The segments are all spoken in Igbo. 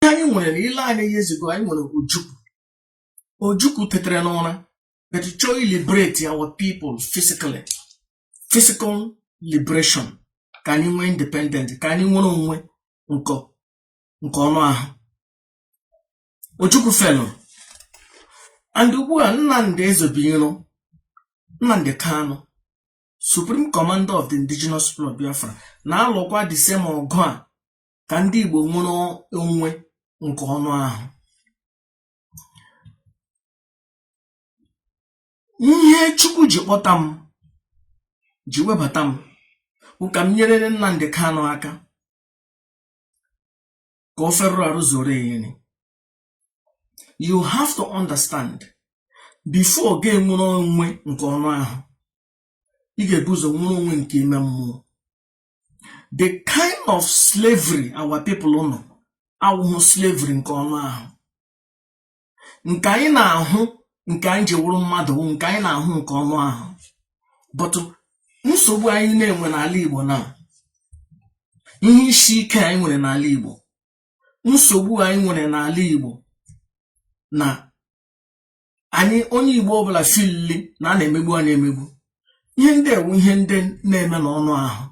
anyị nwere na ile anya years ago anyị nwere ojukwu ojukwu tetere n'ụra but chọọ liberate our people physically physical liberation ka anyị nwee independent ka anyị nwere onwe nke ọnụ ahụ ojukwu failụrụ and ugbu a nnamdị ezobiro nnamdị kanụ Supreme Commander of the Indigenous People of Biafra na-alụkwa the same ọgụ a ka ndị Igbo nwere onwe nke ọnụ ahụ ihe Chukwu ji kpọta m ji webata m bụ ka m nyerere Nnamdi Kanu aka ka o ferụrụ arụ zoro eyiri you have to understand before gị enwere onwe nke ọnụ ahụ ị ga-ebu ụzọ nwere onwe nke ime mmụọ the kind of slavery our people nọ awụhụ slavery nke ọnụ ahụ nke anyị na-ahụ nke anyị ji wụrụ mmadụ nke anyị na-ahụ nke ọnụ ahụ but nsogbu anyị na-enwe n'ala Igbo na ihe isi ike anyị nwere n'ala Igbo nsogbu anyị nwere n'ala Igbo na anyị onye Igbo ọbụla filili na a na-emegbu anyị emegbu ihe ndị a wụ ihe ndị na-eme n'ọnụ ahụ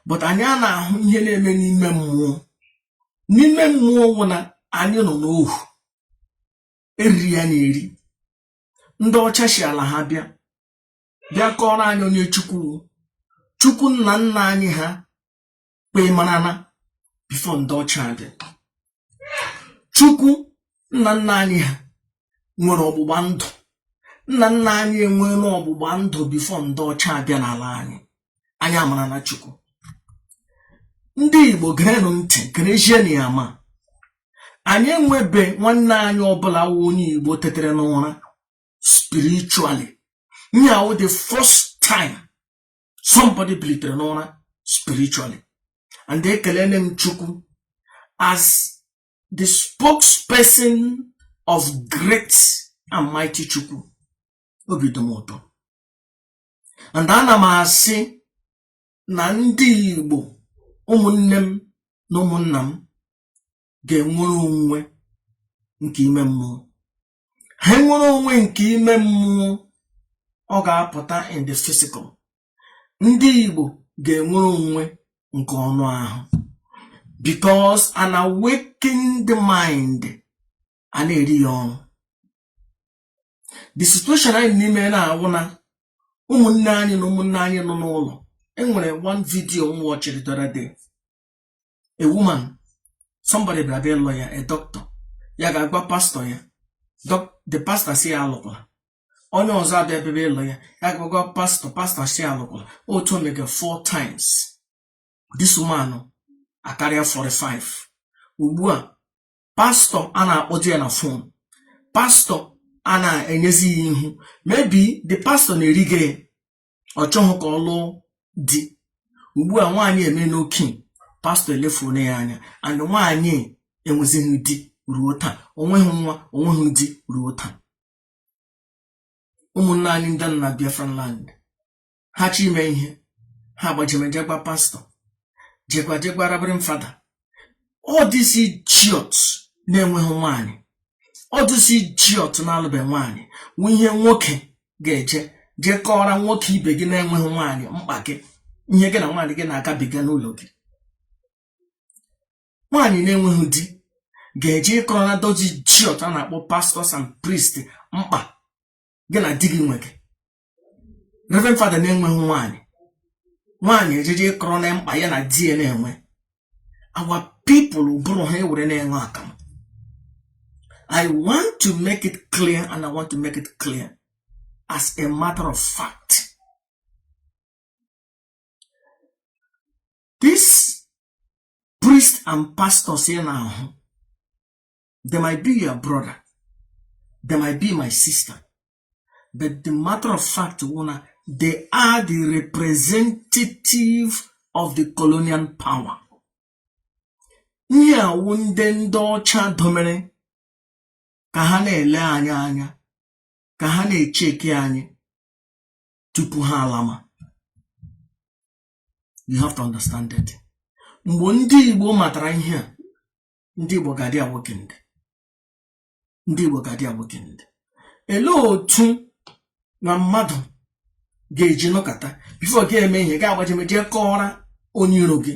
but anyị a na-ahụ ihe na-eme n'ime mmụọ n'ime mmụọ wụ na anyị nọ n'ohu eriri ya na-eri ndị ọcha si ala ha bịa bịa kọrọ anyị onye chukwu wụ chukwu nna nna anyị ha kpee marana before ndị ọcha abịa chukwu nna nna anyị ha nwere ọgbụgba ndụ nna nna anyị enweela ọgbụgba ndụ before ndị ọcha abịa n'ala anyị anyị amarana chukwu ndị igbo gerenụ ntị gerezienụ ya ma anyị enwebe nwanne anyị ọbụla wụ onye igbo tetere n'ụra spiritually nya wụ the first time somebody bilitere n'ụra spiritually and ekelele m chukwu as the spokesperson of great and mighty chukwu obi dị m ụtọ and ana m asị na ndị igbo ụmụnne m na ụmụnna m ga-enwere onwe nke ime mmụọ ha nwere onwe nke ime mmụọ ọ ga-apụta in the physical ndị Igbo ga-enwere onwe nke ọnụ ahụ because an awakened mind a na-eri ya ọnụ the situation anyị nọ n'ime na-awụ na ụmụnne anyị na ụmụnne anyị nọ n'ụlọ enwere one video m watchiri the a woman somebody bịara bịa ịlụ ya a doctor ya gaa gwa pastọ ya the pastor sị ya alụkwala onye ọzọ abịa bịa ịlụ ya ya gaa gwa pastọ pastọ sị ya alụkwala otu o mega four times this woman akarịa 45 ugbu a pastọ a na-akpọzi ya na fon pastọ a na-enyezi ya ihu maybe the pastọ na-eriga ya ọ chọghị ka ọ lụọ di ugbu a nwaanyị emena okenye pastọ elefuola ya anya and nwaanyị enwezighị di ruo taa o nweghị nwa o nweghị di ruo taa ụmụnne anyị ndị nọ na Biafran land ha chọ ime ihe ha gbajeme jee gwa pastọ jee gwa jee gwa Reverend Father all these idiots na-enweghị nwaanyị all these idiots na-alụbe nwaanyị nwe ihe nwoke ga-eji jee kọọra nwoke ibe gị na-enweghị nwaanyị mkpa gị ihe gị na nwaanyị gị na-agabiga n'ụlọ gị nwaanyị na-enweghị di ga-eje ịkọrọ na those idiots a na-akpọ pastors and priests mkpa gị na di gị nwe gị Reverend Father na-enweghị nwaanyị nwaanyị ejeje ịkọrọ na mkpa ya na di ya na-enwe our people ụbụrụ ha e were na-aṅụ akamụ I want to make it clear and I want to make it clear as a matter of fact these priests and pastors ị na-ahụ they might be your brother they might be my sister but the matter of fact wụ na they are the representative of the colonial power ihe a wụ ndị ndị ọcha domere ka ha na-ele anyị anya ka ha na-echeki anyị tupu ha alama you have to understand that mgbe ndị Igbo matara ihe a ndị Igbo ga-adị awokened ndị Igbo ga-adị awokened elee otu na mmadụ ga-eji nọkọta before ga-eme ihe ga-agbajeme jee kọọra onye iro gị